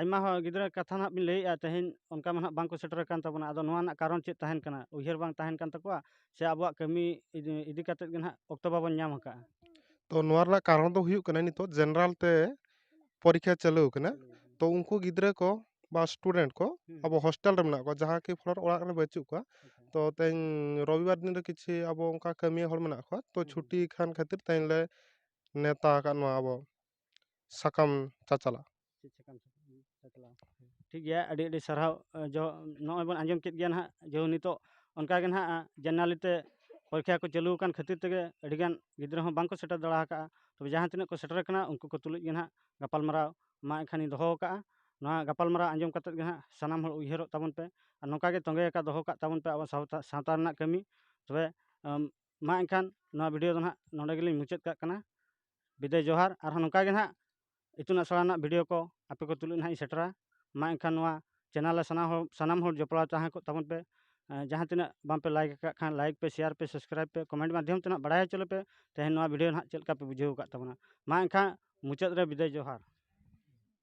ᱟᱭᱢᱟ ᱦᱚᱲ ᱜᱤᱫᱽᱨᱟᱹ ᱠᱟᱛᱷᱟ ᱱᱟᱦᱟᱜ ᱵᱤᱱ ᱞᱟᱹᱭᱮᱜᱼᱟ ᱛᱮᱦᱮᱧ ᱚᱱᱠᱟ ᱢᱟ ᱱᱟᱦᱟᱜ ᱵᱟᱝᱠᱚ ᱥᱮᱴᱮᱨ ᱟᱠᱟᱱ ᱛᱟᱵᱚᱱᱟ ᱟᱫᱚ ᱱᱚᱣᱟ ᱨᱮᱱᱟᱜ ᱠᱟᱨᱚᱱ ᱪᱮᱫ ᱛᱟᱦᱮᱱ ᱠᱟᱱᱟ ᱩᱭᱦᱟᱹᱨ ᱵᱟᱝ ᱛᱟᱦᱮᱱ ᱠᱟᱱ ᱛᱟᱠᱚᱣᱟ ᱥᱮ ᱟᱵᱚᱣᱟᱜ ᱠᱟᱹᱢᱤ ᱤᱫᱤ ᱤᱫᱤ ᱠᱟᱛᱮᱫ ᱜᱮ ᱱᱟᱦᱟᱜ ᱚᱠᱛᱚ ᱵᱟᱵᱚᱱ ᱧᱟᱢ ᱟᱠᱟᱜᱼᱟ ᱛᱚ ᱱᱚᱣᱟ ᱨᱮᱱᱟᱜ ᱠᱟᱨᱚᱱ ᱫᱚ ᱦᱩᱭᱩᱜ ᱠᱟᱱᱟ ᱱᱤᱛᱚᱜ ᱡᱮᱱᱟᱨᱮᱞ ᱛᱮ ᱯᱚᱨᱤᱠᱠᱷᱟ ᱪᱟᱹᱞᱩ ᱟᱠᱟᱱᱟ ᱛᱚ ᱩᱱᱠᱩ ᱜᱤᱫᱽᱨᱟᱹ ᱠᱚ ᱵᱟ ᱥᱴᱩᱰᱮᱱᱴ ᱠᱚ ᱟᱵᱚ ᱦᱳᱥᱴᱮᱞ ᱨᱮ ᱢᱮᱱᱟᱜ ᱠᱚᱣᱟ ᱡᱟᱦᱟᱸ ᱠᱤ ᱯᱷᱚᱞᱚᱨ ᱚᱲᱟᱜ ᱨᱮ ᱵᱟᱹᱪᱩᱜ ᱠᱚᱣᱟ ᱛᱚ ᱛᱮᱦᱮᱧ ᱨᱚᱵᱤᱵᱟᱨ ᱫᱤᱱ ᱨᱮ ᱠᱤᱪᱷᱩ ᱟᱵᱚ ᱚᱱᱠᱟ ᱠᱟᱹᱢᱤᱭᱟᱹ ᱦᱚᱲ ᱢᱮᱱᱟᱜ ᱠᱚᱣᱟ ᱛᱚ ᱪᱷᱩᱴᱤ ᱠᱷᱟᱱ ᱠᱷᱟᱹᱛᱤᱨ ᱛᱮᱦᱮᱧ ᱞᱮ ᱱᱮᱶᱛᱟ ᱟᱠᱟᱫ ᱱᱚᱣᱟ ᱟᱵᱚ ᱥᱟᱠᱟᱢ ᱪᱟᱪᱟᱞᱟᱜ ᱴᱷᱤᱠ ᱜᱮᱭᱟ ᱟᱹᱰᱤ ᱟᱹᱰᱤ ᱥᱟᱨᱦᱟᱣ ᱡᱚ ᱱᱚᱜᱼᱚᱭ ᱵᱚᱱ ᱟᱸᱡᱚᱢ ᱠᱮᱫ ᱜᱮᱭᱟ ᱱᱟᱦᱟᱜ ᱡᱮ ᱱᱤᱛᱳᱜ ᱚᱱᱠᱟ ᱜᱮ ᱱᱟᱦᱟᱜ ᱡᱟᱨᱱᱟᱞᱤ ᱛᱮ ᱯᱚᱨᱤᱠᱷᱟ ᱠᱚ ᱪᱟᱹᱞᱩ ᱟᱠᱟᱱ ᱠᱷᱟᱹᱛᱤᱨ ᱛᱮᱜᱮ ᱟᱹᱰᱤ ᱜᱟᱱ ᱜᱤᱫᱽᱨᱟᱹ ᱦᱚᱸ ᱵᱟᱝ ᱠᱚ ᱥᱮᱴᱮᱨ ᱫᱟᱲᱮ ᱟᱠᱟᱫᱼᱟ ᱛᱚᱵᱮ ᱡᱟᱦᱟᱸ ᱛᱤᱱᱟᱹᱜ ᱠᱚ ᱥᱮᱴᱮᱨ ᱟᱠᱟᱱᱟ ᱩᱱᱠᱩ ᱠᱚ ᱛᱩᱞᱩᱡ ᱜᱮ ᱱᱟᱦᱟᱜ ᱜᱟᱯᱟᱞᱢᱟᱨᱟᱣ ᱢᱟ ᱮᱱᱠᱷᱟᱱ ᱤᱧ ᱫᱚᱦᱚ ᱟᱠᱟᱫᱼᱟ ᱱᱚᱣᱟ ᱜᱟᱯᱟᱞᱢᱟᱨᱟᱣ ᱟᱸᱡᱚᱢ ᱠᱟᱛᱮᱫ ᱜᱮ ᱱᱟᱦᱟᱜ ᱥᱟᱱᱟᱢ ᱦᱚᱲ ᱩᱭᱦᱟᱹᱨᱚᱜ ᱛᱟᱵᱚᱱ ᱯᱮ ᱟᱨ ᱱᱚᱝᱠᱟ ᱜᱮ ᱛᱚᱸᱜᱮ ᱟᱠᱟᱫ ᱫᱚᱦᱚ ᱠᱟᱜ ᱛᱟᱵᱚᱱ ᱯᱮ ᱟᱵᱚ ᱥᱟᱶᱛᱟ ᱥᱟᱶᱛᱟ ᱨᱮᱱᱟᱜ ᱠᱟᱹᱢᱤ ᱛᱚᱵᱮ ᱢᱟ ᱮᱱᱠᱷᱟᱱ ᱱᱚᱣᱟ ᱵᱷᱤᱰᱤᱭᱳ ᱫᱚ ᱱᱟᱦᱟᱜ ᱱᱚᱰᱮ ᱜᱮᱞᱤᱧ ᱢᱩᱪᱟᱹᱫ ᱠᱟᱜ ᱠᱟᱱᱟ ᱵᱤᱫᱟᱹᱭ ᱡᱚᱦᱟᱨ ᱟᱨᱦᱚᱸ ᱱᱚᱝᱠᱟ ᱜᱮ ᱱᱟᱦᱟᱜ ᱤᱛᱩᱱ ᱟᱥᱲᱟ ᱨᱮᱱᱟᱜ ᱵᱷᱤᱰᱤᱭᱳ ᱠᱚ ᱟᱯᱮ ᱠᱚ ᱛᱩᱞᱩᱡ ᱱᱟᱦᱟᱜ ᱤᱧ ᱥᱮᱴᱮᱨᱟ ᱢᱟ ᱮᱱᱠᱷᱟᱱ ᱱᱚᱣᱟ ᱪᱮᱱᱮᱞ ᱨᱮ ᱥᱟᱱᱟᱢ ᱦᱚᱲ ᱥᱟᱱᱟᱢ ᱦᱚᱲ ᱡᱚᱯᱲᱟᱣ ᱛᱟᱦᱮᱸ ᱠᱚᱜ ᱛᱟᱵᱚᱱ ᱯᱮ ᱡᱟᱦᱟᱸ ᱛᱤᱱᱟᱹᱜ ᱵᱟᱝᱯᱮ ᱞᱟᱭᱤᱠ ᱟᱠᱟᱫ ᱠᱷᱟᱱ ᱞᱟᱭᱤᱠ ᱯᱮ ᱥᱮᱭᱟᱨ ᱯᱮ ᱥᱟᱵᱥᱠᱨᱟᱭᱤᱵᱽ ᱯᱮ ᱠᱚᱢᱮᱱᱴ ᱢᱟᱫᱽᱫᱷᱚᱢ ᱛᱮ ᱱᱟᱦᱟᱜ ᱵᱟᱲᱟᱭ ᱦᱚᱪᱚ ᱞᱮᱯᱮ ᱛᱮᱦᱮᱧ ᱱᱚᱣᱟ ᱵᱷᱤᱰᱤᱭᱳ ᱱᱟᱦᱟᱜ ᱪᱮᱫ ᱞᱮᱠᱟ ᱯᱮ ᱵᱩᱡᱷᱟᱹᱣ ᱟᱠᱟᱫ ᱛᱟᱵᱚᱱᱟ ᱢᱟ ᱮᱱᱠᱷᱟᱱ ᱢᱩᱪᱟᱹᱫ ᱨᱮ ᱵᱤᱫᱟᱹᱭ ᱡᱚᱦᱟᱨ